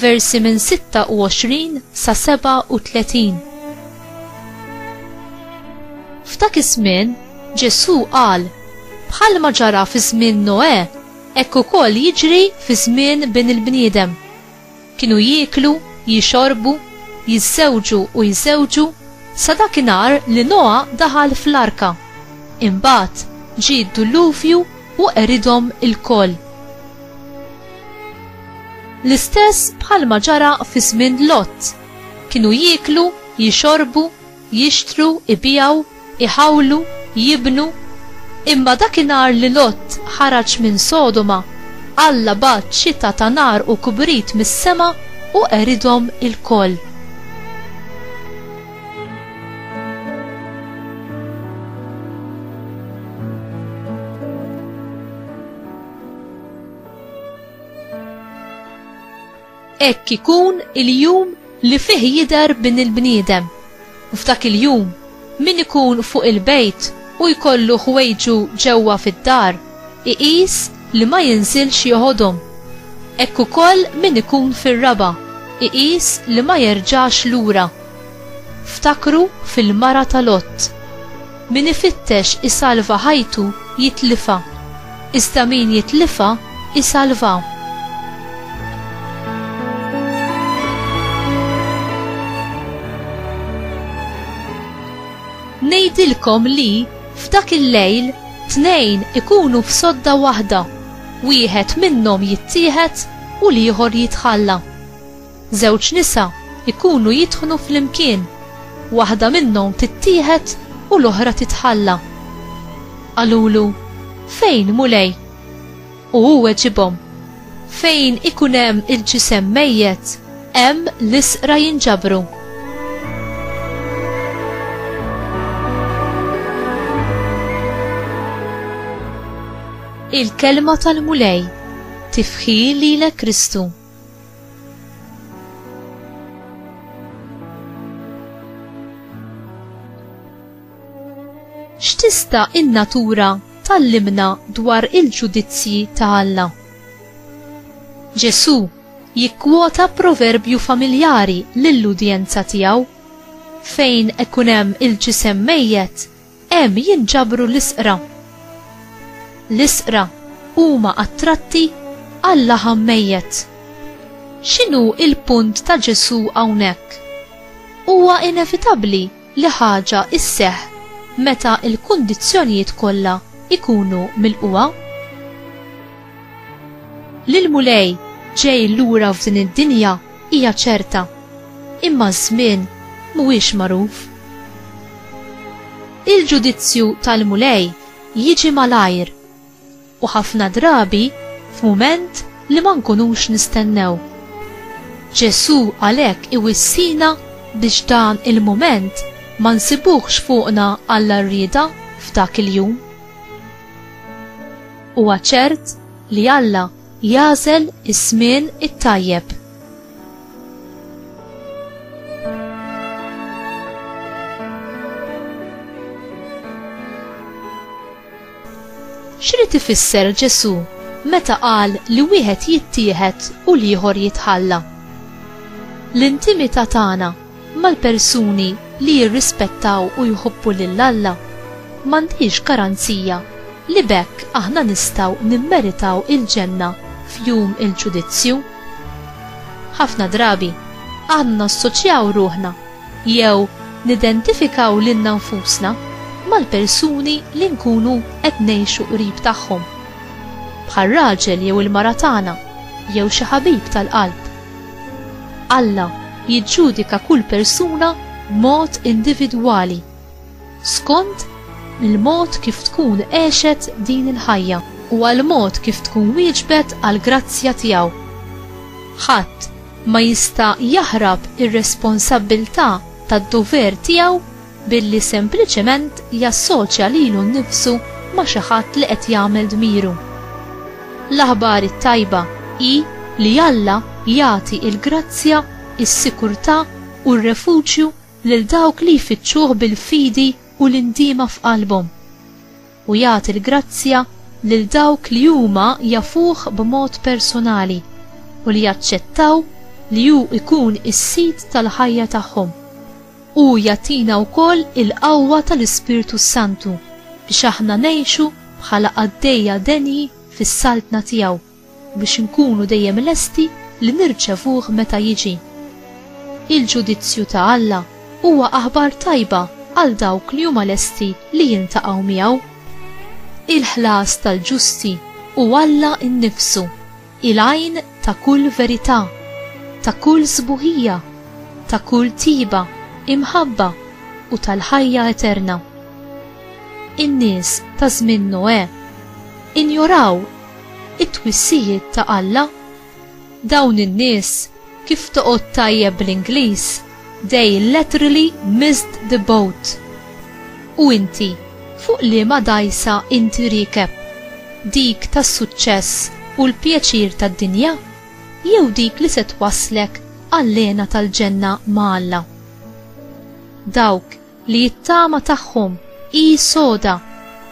versi minn 26 sa 37. F'dak iż-żmien Ġesù qal bħalma ġara fi żmien Noè hekk ukoll jiġri fi żmien bin il-bniedem. Kienu jieklu, jixorbu, jiżżewġu u jżewġu sa dakinhar li Noa daħal fl-arka. Imbagħad ġie d-duluvju u qeridhom ilkoll. L-istess bħalma ġara fi żmien Lott, kienu jieklu, jixorbu, jixtru, ibiegħu, iħawlu, jibnu, imma dakinhar li Lott ħaraġ minn Sodoma, Alla bagħat xita ta' nar u kbrit mis-sema u qeridhom ilkoll. hekk ikun il-jum li fih jidher bin il-bniedem. U f'dak il-jum, min ikun fuq il-bejt u jkollu ħwejġu ġewwa fid-dar, iqis li ma jinżilx joħodhom. Hekk ukoll min ikun fir-raba, iqis li ma jerġax lura. Ftakru fil-mara ta' Lot. Min ifittex isalva ħajtu jitlifha, iżda min jitlifha jsalvha. Ngħidilkom li, f'dak il-lejl, tnejn ikunu f'sodda waħda, wieħed minnhom jittieħed u l-ieħor jitħalla. Żewġ nisa jkunu jidħnu flimkien, waħda minnhom tittieħed u l-oħra titħalla. Qalulu, Fejn, Mulej? U hu weġibhom, Fejn ikun hemm il-ġisem mejjet, hemm l-isqra jinġabru. Il-kelma tal-Mulej tifħi lilek Kristu. X'tista' in-natura tallimna dwar il-ġudizzji ta' Alla? Ġesù jikkwota proverbju familjari lill-udjenza tiegħu, Fejn ikun hemm il-ġisem mejjet, Hemm jinġabru l-isqra. L-isqra huma attratti għal-laħam mejjet. X'inhu l-punt ta' Ġesù hawnhekk? Huwa inevitabbli li ħaġa sseħħ meta l-kundizzjonijiet kollha jkunu milqugħa. Li l-Mulej ġej lura f'din id-dinja hija ċerta, imma ż-żmien mhuwiex magħruf. Il-ġudizzju tal-Mulej jiġi malajr u ħafna drabi f'mument li ma nkunux nistennew. Ġesù għalhekk iwissina biex dan il-mument ma nsibuhx fuqna għall-għarrieda f'dak il-jum. Huwa ċert li Alla jagħżel iż-żmien it-tajjeb. X'rid ifisser Ġesù meta qal li wieħed jittieħed u l-ieħor jitħalla? L-intimità tagħna mal-persuni li jirrispettaw u jħobbu lil Alla, m'għandhiex garanzija li b'hekk aħna nistgħu nimmeritaw il-Ġenna f'Jum il-Ġudizzju. Ħafna drabi, aħna nassoċjaw ruħna jew nidentifikaw lilna nfusna mal-persuni li nkunu qed ngħixu qrib tagħhom, bħar-raġel jew il-mara tagħna jew xi ħabib tal-qalb. Alla jiġġudika kull persuna b'mod individwali, skont il-mod kif tkun għexet din il-ħajja u għall-mod kif tkun wieġbet għall-grazzja tiegħu. Ħadd ma jista' jaħrab ir-responsabbiltà tad-dover tiegħu billi sempliċement jassoċja lilu nnifsu ma' xi ħadd li qed jagħmel dmiru. L-aħbar it-tajba hi li Alla jagħti l-grazzja, is-sikurtà u r-refuġju lil dawk li jfittxuh bil-fidi u l-indiema f'qalbhom. u jagħti l-grazzja lil dawk li huma jafuh b'mod personali u li jaċċettaw li hu jkun is-Sid tal-ħajja tagħhom. Hu jagħtina wkoll il-qawwa tal-Ispirtu s-Santu biex aħna ngħixu bħala qaddejja denji fis-Saltna tiegħu. biex inkunu dejjem lesti li nirċevuh meta jiġi. Il-ġudizzju ta' Alla huwa aħbar tajba għal dawk li huma lesti li jiltaqgħu miegħu. Il-ħlas tal-ġusti hu Alla nnifsu, il-għajn ta' kull verità, ta' kull sbuħija, ta' kull tiba, imħabba u tal-ħajja eterna. In-nies ta' żmien Noè injoraw It-twissijiet ta' Alla? Dawn in-nies, kif toqgħod tajjeb bl-Ingliż, they laterally missed the boat. U inti, fuq liema dgħajsa inti riekeb? Dik tas-suċċess u l-pjaċir tad-dinja? Jew dik li se twasslek għall-hena tal-ġenna ma' Alla? Dawk li jittama tagħhom hi soda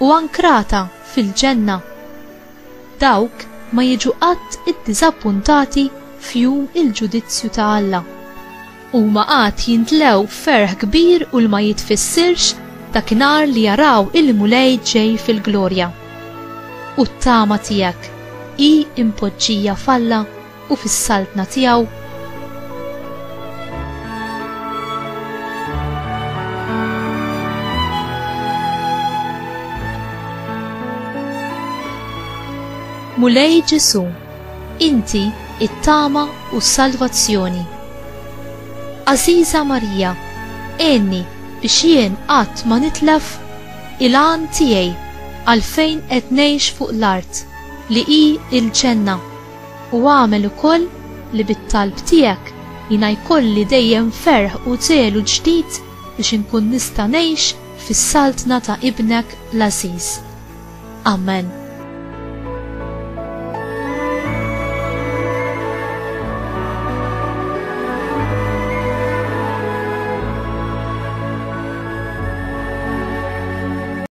u ankrata fil-ġenna. Dawk ma jiġu qatt iddiżappuntati f'jum il-ġudizzju ta' Alla. Huma għad jintlew ferħ kbir u l-ma jitfissirx dakinhar li jaraw il-Mulej ġej fil-glorja. U t-tama tiegħek hi impoġġija f'Alla? u fis-Saltna tiegħu. Mulej Ġesu, inti it-tama u s-salvazzjoni. Aziza Marija, għenni biex jien qatt ma nitlef il-għan tiegħi għalfejn qed ngħix fuq l-art li hi il-ġenna. U agħmel ukoll li bit-talb tiegħek jiena jkolli dejjem ferħ u żelu ġdid biex inkun nista' ngħix fis-Saltna ta' Ibnek l-għażiż. Amen.